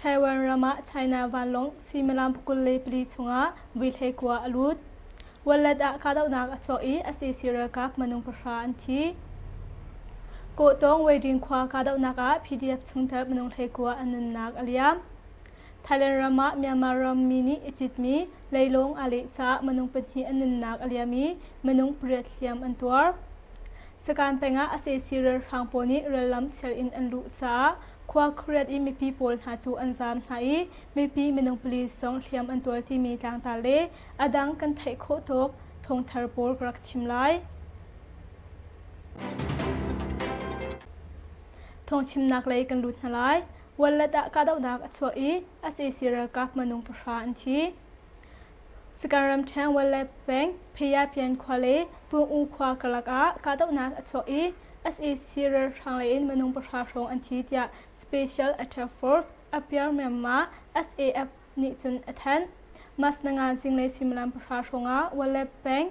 Taiwan ram ah China vanlawng suimilam pakul le pali chungah vuihlei kua a lut. Wallet ah kahdohnak a chuak i a sesi ralkap minung pahra an thi. Kawhtawng Weiding khua kahdohnak ah PDF chungtel minung hleikua an nunnak a liam. Thailand ram ah Myanmar rammi nih i citmi leilawng aa lehcah minung pahnih an nunnak a liam i minung pariat hliam an tuar. Sakan peng ah a sesi ralhrang pawl nih rallam sianginn an luh caah khua khuariat i mipi pawl hna cu an zaam hna i mipi minung pali sawng hliam an tuar timi tlangtar le a dang kan theih khawh tuk thawngthar pawl ka rak chim lai. Thawngchimnak lei kan lut hna lai. Wallet ah kahdohnak a chuah i a cc ralkap manung pahra an thi. Sakaram ṭheng Walet peng Phayapyin khua le Pung-u khua karlak ah kahdohnak a chuak i sac ralhrang lei in minung pahra hrawng an thi tiah Special Attack Force appear Myanmar SAF nih cun a thanh. Mas nangan zinglei suimilam pahra hrawng ah Walet peng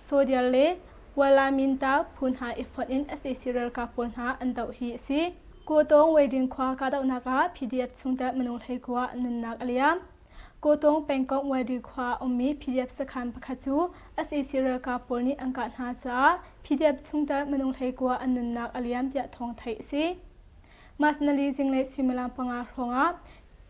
Sodial le Wala-Minta phu hna i fonh in sac ralkap pawl hna an doh hi a si. Kawtawng Weiding khua kahdohnak ah PDF chungtel minung hleikua nunnak a liam. Kawtawng pengkomh Weiding khua a ummi PDF sakhan pakhat cu sac ralkap pawl nih an kah hna caah PDF chungtel minung hleikua an nunnak a liam tiah thawng theih a si. Mas nali zinglei suimilam panga hrawngah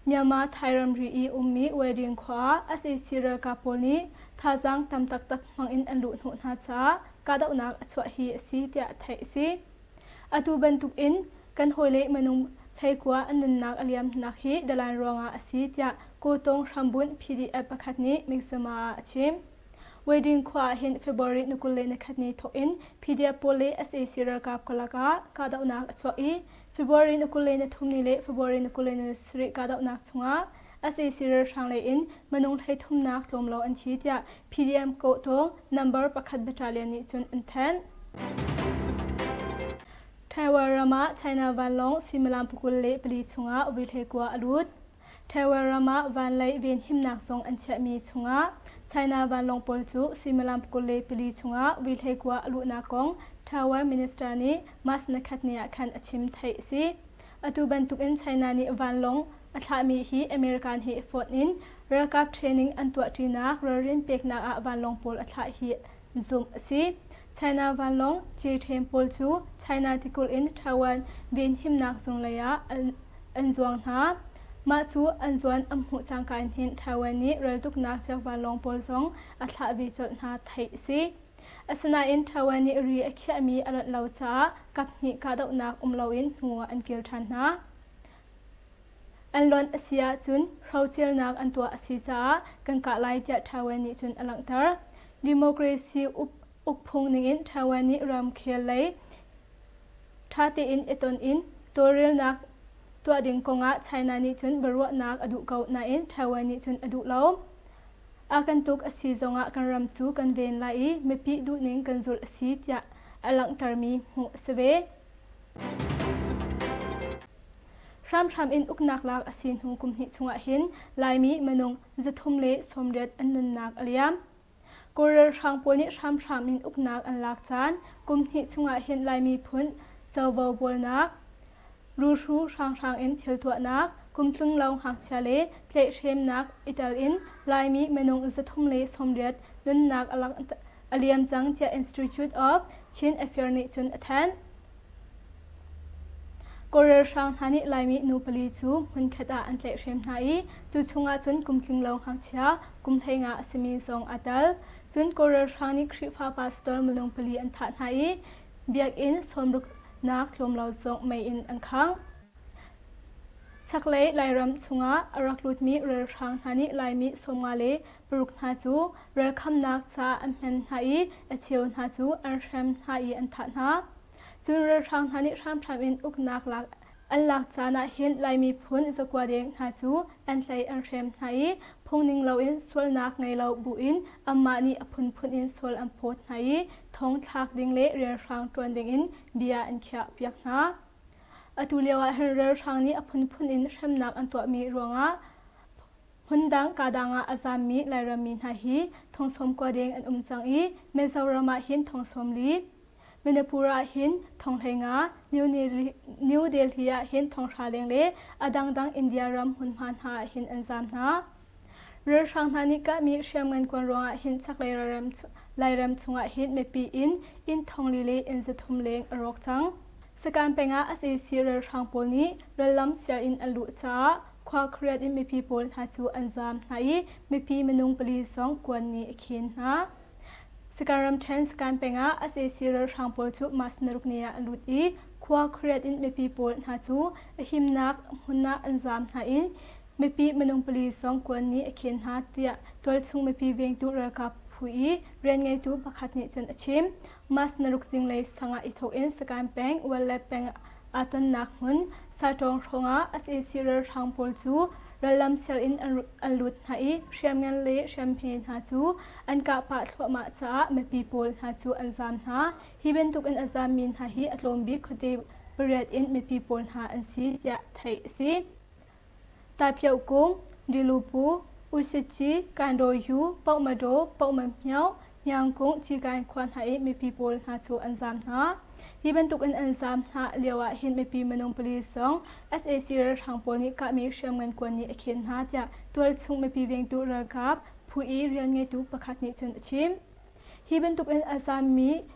Myanmar Thai ramri i ummi Wedding khua ah sac ralkap pawl nih thazaang tam taktak hmangin an luhhnawh hna caah kahdohnak a chuah hi a si tiah theih a si. Atu bantukin kan hawile minung hleikua an nunnak a liamnak hi Dalan ruangah a si tiah Kawtawng hrambunh PDF pakhat nih Miksema ah a chim. Wedding khua ah hin February ni kul le ni khat ni thawkin PDF pawl le sac ralkap karlak ah kahdohnak a chuak i February ni kul le ni thum ni le February ni kul le ni sarih kahdohnak chungah SAC ralhrang lei in minung hlei thumnak tlawmlaw an thi tiah PDM kawhtu number pakhat battalion nih cun an thanh. Taiwan ram ah China vanlawng suimilam pukul le pali chungah vuihlei kua a lut. Taiwan ram ah vanlei venhimnak zong an chiahmi chungah China vanlawng pawl cu suimilam kul le pali chungah vuihlei kua a luhnak kong Taiwan minister nih March nakhatni ah khan a chim theih a si. Atu bantukin China nih vanlawng a thlahmi hi American he fawt in ralkap training an tuahṭinak ralrin peknak ah vanlawng pawl a thlah hi zumh a si. China vanlawng ceuṭhen pawl cu China tikulh in Taiwan venhimnak zunglei ah an zuang hna. Mah cu an zuan an hmuh cangka in hin Taiwan nih raltuknak cio vanlawng pawl zong a thlah ve colh hna theih a si. Asinain Taiwan nih ri a khiahmi a rat lo caah kaphnih kahdohnak um loin hnu ah an kir ṭhan hna. An lonh a si ahcun hrocernak an tuah a si caah kan kah lai tiah Taiwan nih cun a langhter. Democracy uk, ukphung ningin Taiwan nih ramkhel lei ṭha tein i ton in tawlrelnak tuah ding kongah China nih cun biaruahnak a duh ko nain Taiwan nih cun a duh lo. A kan tuk a si zongah kan ram cu kan ven lai i mipi duhning kan zulh a si tiah a langhtermi hmuh a si ve. Hramhram in uknak lak a si hnu kumhnih chungah hin Laimi minung zathum le sawmriat an nunnak a liam. Kawl ralhrang pawl nih hramhram in uknak an lak caan kumhnih chungah hin Laimi phun covo bualnak, ruhru hranghrang in thil tuahnak, kumtlung lawng hngakchia le tlaihhremnak i tel in Laimi minung zathum le sawmriat nunnak a a liam cang tiah Institute of Chin Affairs nih cun a thanh. Kawl ralhrang hna nih Laimi nu pali cu hmunkhat ah an tlaihhrem hna i cu chungah cun kum tlinglo ngakchia kum hleinga a simi zong aa tel. Cun Kawl ralhrang nih Khrihfa pa sitor minung pali an thah hna i biakinn sawmruknak tlawmlo zong mei in an khangh. Chaklei Lairam chungah a rak lutmi ralhrang hna nih Laimi sawmnga le paruk hna cu rel khamnak ca an hman hna i a cheu hna cu an hrem hna i an thah hna. Cun ralhrang hna nih hramhram in uknak lak an lak caan ah hin Lai miphun zakua deng hna cu an hlei an hrem hna i phungning loin sualnak ngei lo bu in anmah nih a phunphun in sual an phawt hna i thong thlak ding le relhrang ṭuan dingin bia an khiahpiak hna. Atu lioah hin ralhrang nih a phunphun in hremnak an tuahmi ruangah Hmundang kadang ah a zaammi Lairammi hna hi thongsawm kua deng an um cang i Mizoram ah hin thongsawm li, Manipur ah hin thonghlei nga, New Delhi ah hin thonghra leng le a dangdang India ram hmunhma hna ah hin an zaam hna. Ralhrang hna nih kahmi hriamngan kuan ruang ah hin chaklei Lairam chungah hin mipi in inn thongli le inn zathum leng a rawk cang. Sakaan peng ah a ceci ralhrang pawl nih rallam sianginn an luh caah khua kariat in mipi pawl hna cu an zaam hna i mipi minung pali zong kuan nih a khin hna. Sakaan ramṭhen Sakaan peng ah a ceci ralhrang pawl cu mas naruk ni ah an lut i khua kariat in mipi pawl hna cu a himnak hmun ah an zaam hna i mipi minung pali zong kuan nih a khin hna tiah tualchung mipi vengtu ralkap phu i rian ngeitu pakhat nih cun a chim. Mas naruk zinglei sangah i thawk in Sakain peng Walle peng aa tonnak hmun Satawng hrawngah SAC ralhrang pawl cu rallam sianginn an lut hna i hriamngan le hriamhme hna cu an kah pah thluahmah caah mipi pawl hna cu an zaam hna. Hi bantuk in a zaammi hna hi a tlawm bik khuate pariat in mipi pawl hna an si tiah theih a si. Taiphiao Kung, Dilupu, Usici, Kandaw-yu, Pohmadaw, Pohmanpyaw, Myangkung, Cigain khua hna i mipi pawl hna cu an zaam hna. Hi bantukin an zaam hna lioah hin mipi minung pali zong sac ralhrang pawl nih kahmi hriam ngankuan nih a khen hna tiah tualchung mipi vengtu ralkap phu i rian ngeitu pakhat nih cun a chim. Hi bantukin a zaammi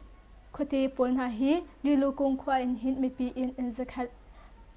khuate pawl hna hi Lilukung khua in hin mipi in an zakhat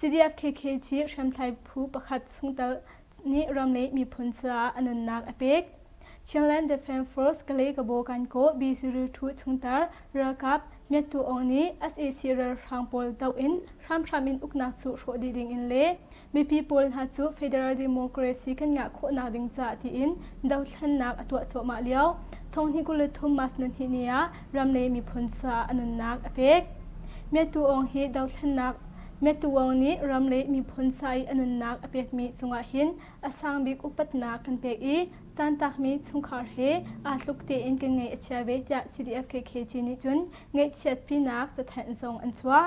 CDF-KK Chin hriamtlai phu pakhat chungtel nih ram le miphun caah a nunnak a pek. Chinland Defence Force Kalay-Kabaw Kankaw B02 chungtar ralkap Myattu Aung nih SAC ralhrang pawl doh in hramhram in uknak cu hrawh dih ding in le Mipi pawl hna cu Federal Democracy kan ngah khawhnak ding caah tiin dohthlennak a tuah cuahmah lio thong hnih kul le thum March nunhnih ni ah ram le miphun caah a nunnak a pek. Mye Tu Aung hi dohthlennak Mye Tu Aung nih ram le miphun sa i a nunnak a pekmi cungah hin a sang bik upatnak kan pek i tantakmi chungkhar he aa tluk tein kan ngei a chia ve tiah CDF KKG nih cun ngaihchiatpinak cathenh zong an chuah.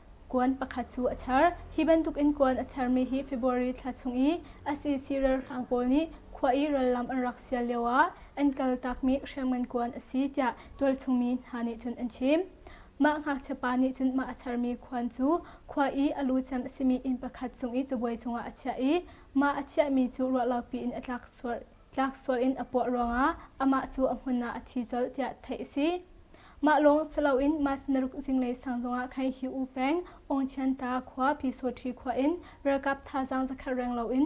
Kuan pakhat cu a char. Hi bantukin kuan a charmi hi February thla chung i ACC ralhrang pawl nih khua i rallam an rak sial lioah an kal takmi hriamngan kuan a si tiah tualchungmi hna nih cun an chim. Mah ngakchiapa nih cun mah a charmi khuan cu khua i a lu cem a simi inn pakhat chung i cabuai cungah a chiah i mah a chiahmi cu ruahlopi in a tlak sual tlak sual in a puah ruangah amah cu a hmun ah a thi colh tiah theih a si. Mah lawng si loin mas naruk zinglei sang zongah khan hi u peng Ongchianta khua Phisawṭhi khua in ralkap thazaang zakhat reng loin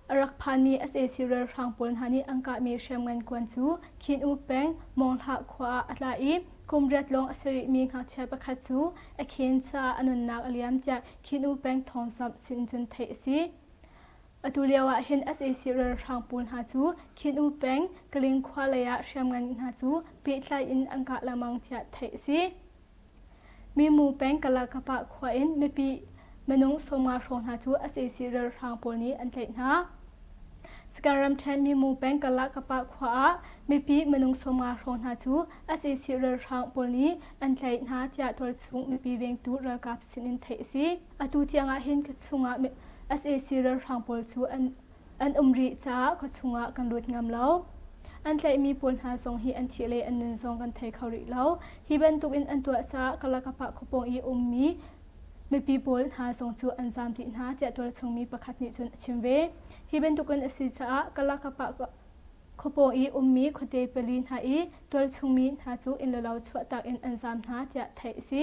a rak phanmi sac ralhrang pawl hna nih an kahmi hriamngan kuan cu Khin U peng Monghla khua ah a tla i kum riat lawng a sarihmi ngakchia pakhat cu a khen caah a nunnak a liam tiah Khin U peng thawngsamh sin cun theih a si. Atu lio ah hin sac ralhrang pawl hna cu Khin-u peng Kaling khua lei ah hriamngan hna cu pehtlai in an kah lengmang tiah theih a si. Minu peng Kalakapa khua in mipi minung sawmnga hrawng hna cu sac ralhrang pawl nih an tlaih hna. Sakae ramṭhen Minu peng Kalakapa khua ah mipi minung sawmnga hrawng hna cu sac ralhrang pawl nih an tlaih hna tiah tualchung mipi vengtu ralkap sin in theih a si. Atu tiang ah hin ka chungah sac ralhrang pawl cu an an um rih caah ka chungah kan lut ngam lo. An tlaihmi pawl hna zong hi an thih le an nun zong kan thei kho rih lo. Hi bantuk in an tuah caah Kalakapah khuapawng i ummi mipi pawl hna zong cu an zaam dih hna tiah tualchungmi pakhat nih cun a chim ve. Hi bantukin a si caah Kalakapah khuapawng i ummi khuate pali hna i tualchungmi hna cu inn le lo chuahtak in an zaam hna tiah theih a si.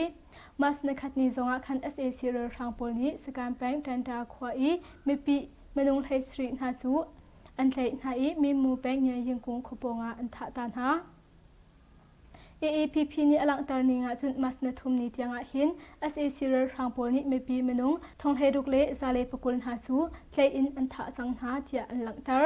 Mas nakhatni zongah khan sac ralhrang pawl nih Sakaan peng Ṭanṭa khua i mipi minung hlei sarih hna cu an tlaih hna i Minmu peng Nyayyingkung khua pawngah an thah ta hna. AAPP nih a langhter ning ahcun mas na thumni tiangah hin sac ralhrang pawl nih mipi minung thonghlei ruk le zalei pakul hna cu tlaih in an thah cang hna tiah an langhter.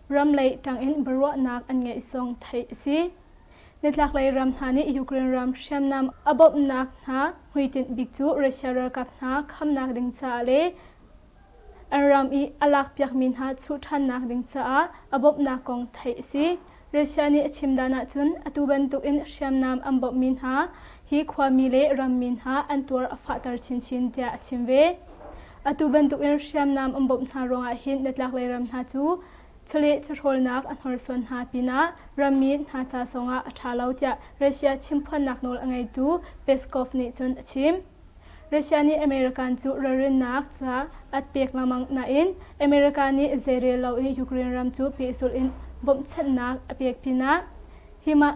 ram lei tangin biaruahnak an ngeih song theih a si. Nitlaklei ram hna nih Ukraine ram hriamnam a bawmhnak hna hmuitinh bik cu Russia ralkap hna khamnak ding caah le an ram i a lakpiakmi hna chuh ṭhannak ding caah a bawmhnak kong theih a si. Russia nih a chim dan ahcun atu bantukin hriamnam an bawmhmi hna hi khuami le rammi hna an tuar a fahter chinchin tiah a chim ve. Atu bantukin hriamnam an bawmh hna ruangah hin hnatlaklei ram hna cu chawleh chawhrawlnak a hnorsuan hna pinah rammi hna ca zongah a ṭha lo tiah Russia chimphuannak nawl a ngeitu Peskov nih cun a chim. Russia nih American cu ralrinnak ca at pek lengmang nain America nih zeirel lo i Ukraine ram cu pehzulh in bawmhchanhnak a pek pinah hi mah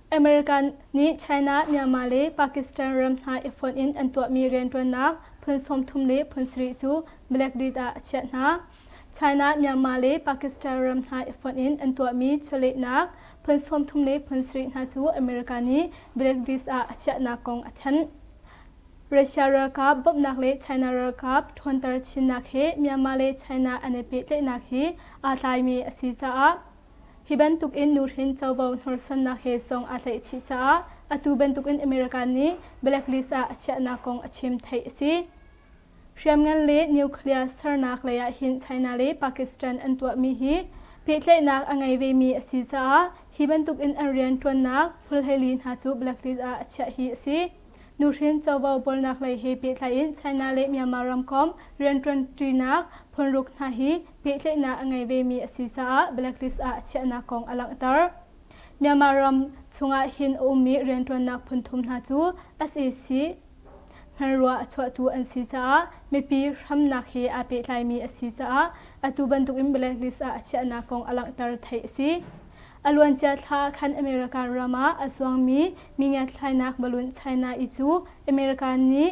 American nih China, Myanmar le Pakistan ram hna i fonh in an tuahmi rianṭuannak phun sawmthum le phun sarih cu Blackbeat ah a chiah hna. China, Myanmar le Pakistan ram hna i fonh in an tuahmi chawlehnak phun sawmthum le phun sarih hna cu America nih Blackbeat ah a chiahnak kong a thanh. Russia ralkap bawmhnak le China ralkap ṭhawnter chinnak he Myanmar le China an i pehtlaihnak hi aa tlaimi a si caah Hi bantukin nuhrin covo hnorsuannak he song aa tlaihchih caah atu bantukin America nih blacklist ah a chiahnak kong a chim theih a si. Hriamngan le nuclear sernak lei ahhin China le Pakistan an tuahmi hi pehtlaihnak a ngei vemi a si caah hi bantukin an rianṭuannak hmulheili hna cu blacklist ah a chiah hi a si. Nuhrin covo bawlnak lei he pehtlai in China le Myanmar ramkomh rianṭuanṭinak phunruk hna hi pehtlaihnak a ngei vemi a si caah blacklist ah chiahnak kong a langhter. Myanmar ram chungah hin a ummi rianṭuannak phunthum hna cu sac hngalruah a chuahtu an si caah mipi hramnak he aa pehtlaimi a si caah atu bantukin blacklist ah chiahnak kong a langhter theih a si. A luancia thla ah khan America ram ah a zuangmi mi ngiatthlainak balloon China i cu America nih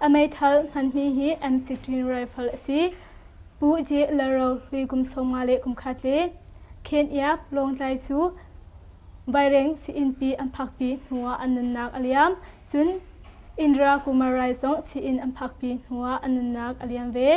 A meithal hmanmi hi MCTIN rifle a si. Pu Je Laro hlui kum sawmnga le kum khat le Khenyap Lawngtlai cu vaireng sii-innpi an phakpi hnu ah an nunnak a liam, cun Indra Kumarai zong sii-inn an phakpi hnu ah an nunnak a liam ve.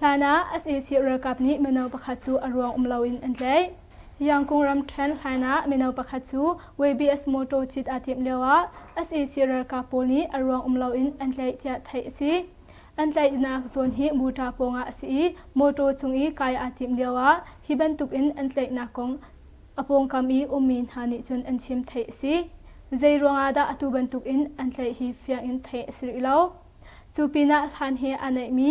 Hlan ah sac ralkap nih mino pakhat cu a ruang um loin an tlaih. Yangkung ramṭhen hlainah mino pakhat cu WBS mawṭaw cit aa timh lioah sac ralkap pawl nih a ruang um loin an tlaih tiah theih a si. An tlaihnak zawn hi Buṭa pawngah a si i mawṭaw cung i kai aa timh lioah hi bantukin an tlaihnak kong a pawngkam i ummi hna nih cun an chim theih a si. Zei ruangah dah atu bantukin an tlaih hi fiang in theih a si rih lo. Cu pinah hlan he aa naihmi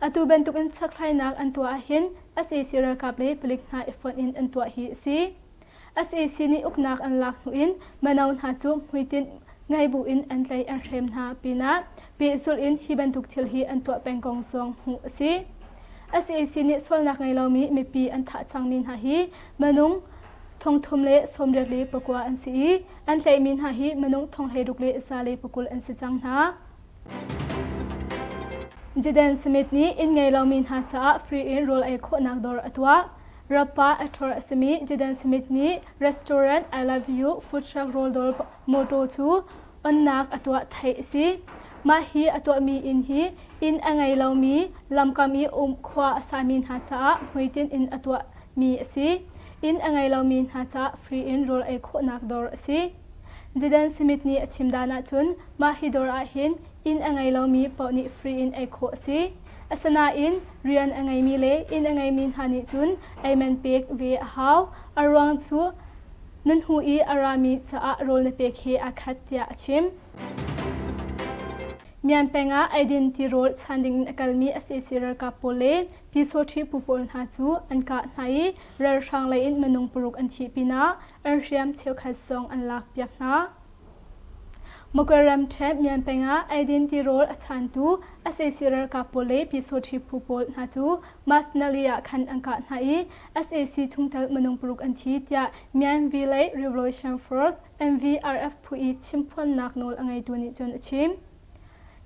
Atu bantukin sakhlainak an tuah ahhin sac ralkap le palik hna i fonh in an tuah hi a si. sac nih uknak an lak hnu in mino hna cu hmuitinh ngei buin an tlei an hrem hna pinah pehzulh in hi bantuk thil hi an tuah peng kong zong hmuh a si. sac nih sualnak ngei lomi mipi an thah cangmi hna hi minung thongthum le sawmriat le pakua an si i an tlaihmi hna hi minung thonghlei ruk le zale pakul an si cang hna. Jaden Smith nih inn ngei lomi hna caah free in rawl ei khawhnak dawr a tuah. Rappa a ṭhawr a simi Jaden Smith nih restaurant I Love You food truck rawldawr mawṭaw cu onnak a tuah theih a si. Mah hi a tuahmi inn hi inn a ngei lomi, lamkam i um khua a sami hna caah hmuitinh in a tuahmi a si. Inn a ngei lomi hna caah free in rawl ei khawhnak dawr a si. Jaden Smith nih a chim dan ahcun Mah hi dawr ahhin inn a ngei lomi paoh nih free in ei khawh a si. Asinain rian a ngeimi le inn a ngeimi hna nih cun amen pek ve a hau. A ruang cu na hnu i a rami caah rawl na pek he aa khat tiah a chim. Mian peng ah eidin tirawl chan dingin a kalmi sac ralkap pawl le Pyesawṭhi phu pawl hna cu an kah hna i ralhrang leiin minung paruk an thi pinah an hriam cheukhat zong an lak piak hna. Muko ramṭhe mian peng ah eidin tirawl a chantu sac ralkap pawl le Pyesawṭhi phu pawl hna cu Masnali ah khan an kah hna i sac chungtel minung paruk an thi tiah Myanmar Village Revolution Force MVRF phu i chimphuannak nawl a ngeitu nih cun a chim.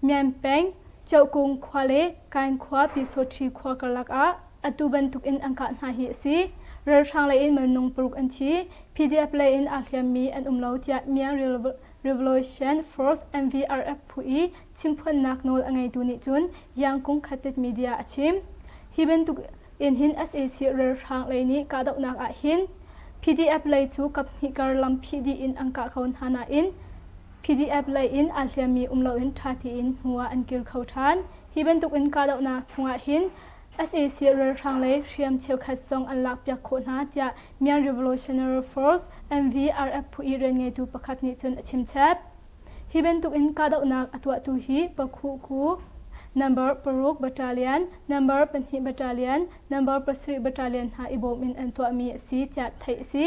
Myan peng, Choh Kung khua le Kain khua Pyesawṭhi khua karlak ah Atu bantuk in an kah hna hi a si. Ralhrang lei in minung paruk an thi. PDF lei in aa hliammi an um lo tiah Myan Revolution Force, MVRF, phu i chimphuannak nawl a ngeitu nih cun Yangkung Khatet media a chim. Hi bantuk in hin sac ralhrang lei nih kahdohnak ah hin PDF lei cu kaphnih kar lam phih dih in an kah kho hna nain PDF lei in aa hliammi um loin ṭha tein hnu ah an kir kho ṭhan. Hi bantuk in kahdohnak chungah hin sac ralhrang le hriam cheukhat zong an lakpiak khawh hna tiah Myan Revolutionary Force, MVRF phu i rianngeitu pakhat nih cun a chimchep. Hi bantukin kahdohnak a tuahtu hi Pakhuku, number paruk battalion, number pahnih battalion, number pasarih battalion hna i bawm in an tuahmi a si tiah theih a si.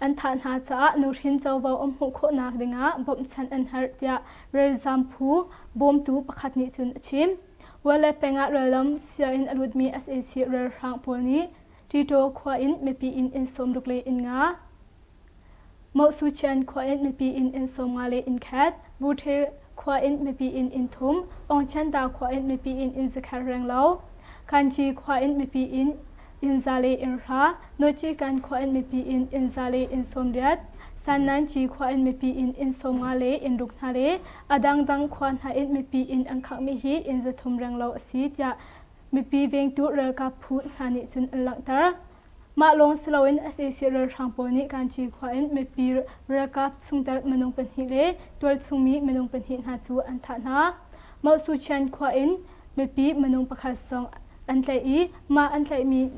An thah hna caah nuhrin covo an hmuh khawhnak dingah bawmhchanh an herh tiah ralzaam phu bawmtu pakhat nih cun a chim. Wale peng ah rallam sianginn a lutmi sac ralhrang pawl nih Ṭiṭaw khua in mipi inn inn sawmruk le inn nga, Moh Su Cian khua in mipi inn inn sawm nga le inn khat, Muṭhi khua in mipi inn in thum, Awngchantaa khua in mipi inn in zakhat reng lo, Kanci khua in mipi inn inn za le inn hra, Nochikan khua in mipi inn inn za le inn sawm riat, Sannanci khua in mipi inn inn sawm nga le inn ruk hna le a dangdang khua hna in mipi inn an khakmi hi inn za thum reng lo a si tiah mipi vengtu ralkap phu hna nih cun an langhter. Mah lawng siloin sac ralhrang pawl nih Kaanci khua in mipi ralkap chungtel minung pahnih le tualchungmi minung pahnih hna cu an thah hna. Mauhsucian khua in mipi minung pakhat zong an tlaih i mah an tlaihmi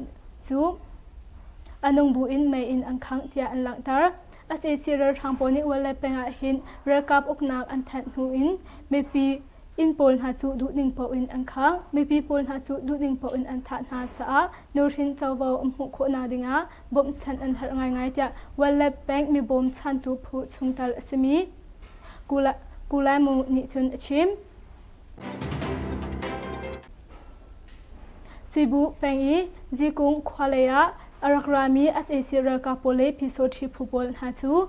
cu a nungbu in mei in an khangh tiah an langhter. sac ralhrang pawl nih walleye peng ah hin ralkap uknak an thanh hnu in mipi Inn pawl hna cu duhning paoh in an khang. Mipi pawl hna cu duhning paoh in an thah hna caah nuhrin covo an hmuh khawh nak dingah bawmhchanh an herh ngaingai tiah Wallab Bank mibawmchantu phu chungtel a simi Kulamu nih cun a chim. Cebu peng i Zikung khua lei ah a rak rami sac ralkap pawl le pyisaw ṭhi phu pawl hna cu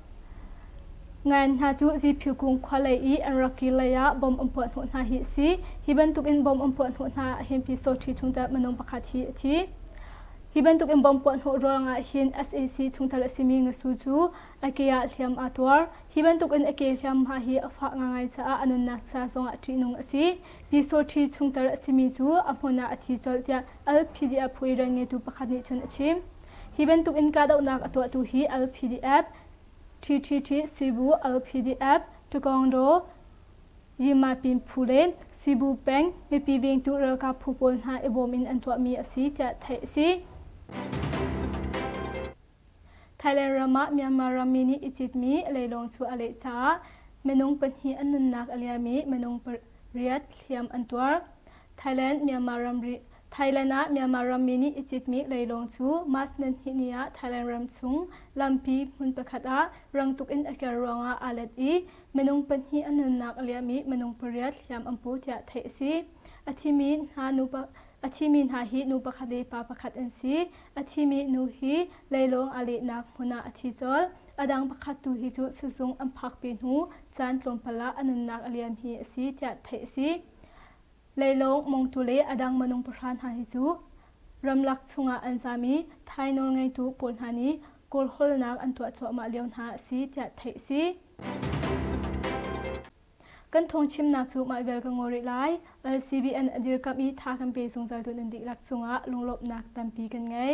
Ngan hna cu Ziphiu kung khua lei i an rak kir leiah bom an puahhnawh hna hi a si. Hi bantukin bom an puahhnawh hna ahhin Pi Soṭhi chungtel minung pakhat hi a thi. Hi bantukin bom puahhnawh ruangah hin sac chungtel a simi ngasu cu a ke ah hliam aa tuar. Hi bantukin a ke hliamhma hi a fah ngaingai caah a nunnak ca zongah ṭihnung a si. Pi Soṭhi chungtel a simi cu a hmun ah a thi colh tiah Al Phidia phu i rian ngeitu pakhat nih cun a chim. Hi bantuk in kahdohnak a tuahtu hi LPDF, TTT Cebu LPDF, Tukongdaw, Yimapin phu le Cebu peng mipi vengtu ralkap phu pawl hna i bawm in an tuahmi a si tiah theih a si. Thailand ram ah Myanmar rammi nih i citmi leilawng cu a leh caah minung pahnih an nunnak a liam i minung pariat hliam an tuar. Thailand Myanmar ramri Thailand ah Myanmar rammi nih i citmi leilawng cu March nanhnih ni ah Thailand ram chung lampi hmun pakhat ah rang tuk in a kir ruangah aa let i minung pahnih a nunnak a liam i minung pariat hliam an pu tiah theih a si. A thimi hna nupa a thimi hna hi nu pakhat le pa pakhat an si. A thimi nu hi leilawng aa lehnak hmun ah a thi colh. A dang pakhat tu hi cu sizung an phakpi hnu caan tlawmpal ah a nunnak a liam hi a si tiah theih a si. Leilawng, mongtu le a dang minung pahra hna hi cu ramlak chungah an zam i Thai nawlngeitu pawl hna nih kawlhawlnak an tuah cuahmah lio hna a si tiah theih a si. Kan thawngchimnak cu mah vial ka ngaw rih lai. LCBN a dirkamh i tha kan pe zungzal tu nan dihlak cungah lunglawmhnak tampi kan ngei.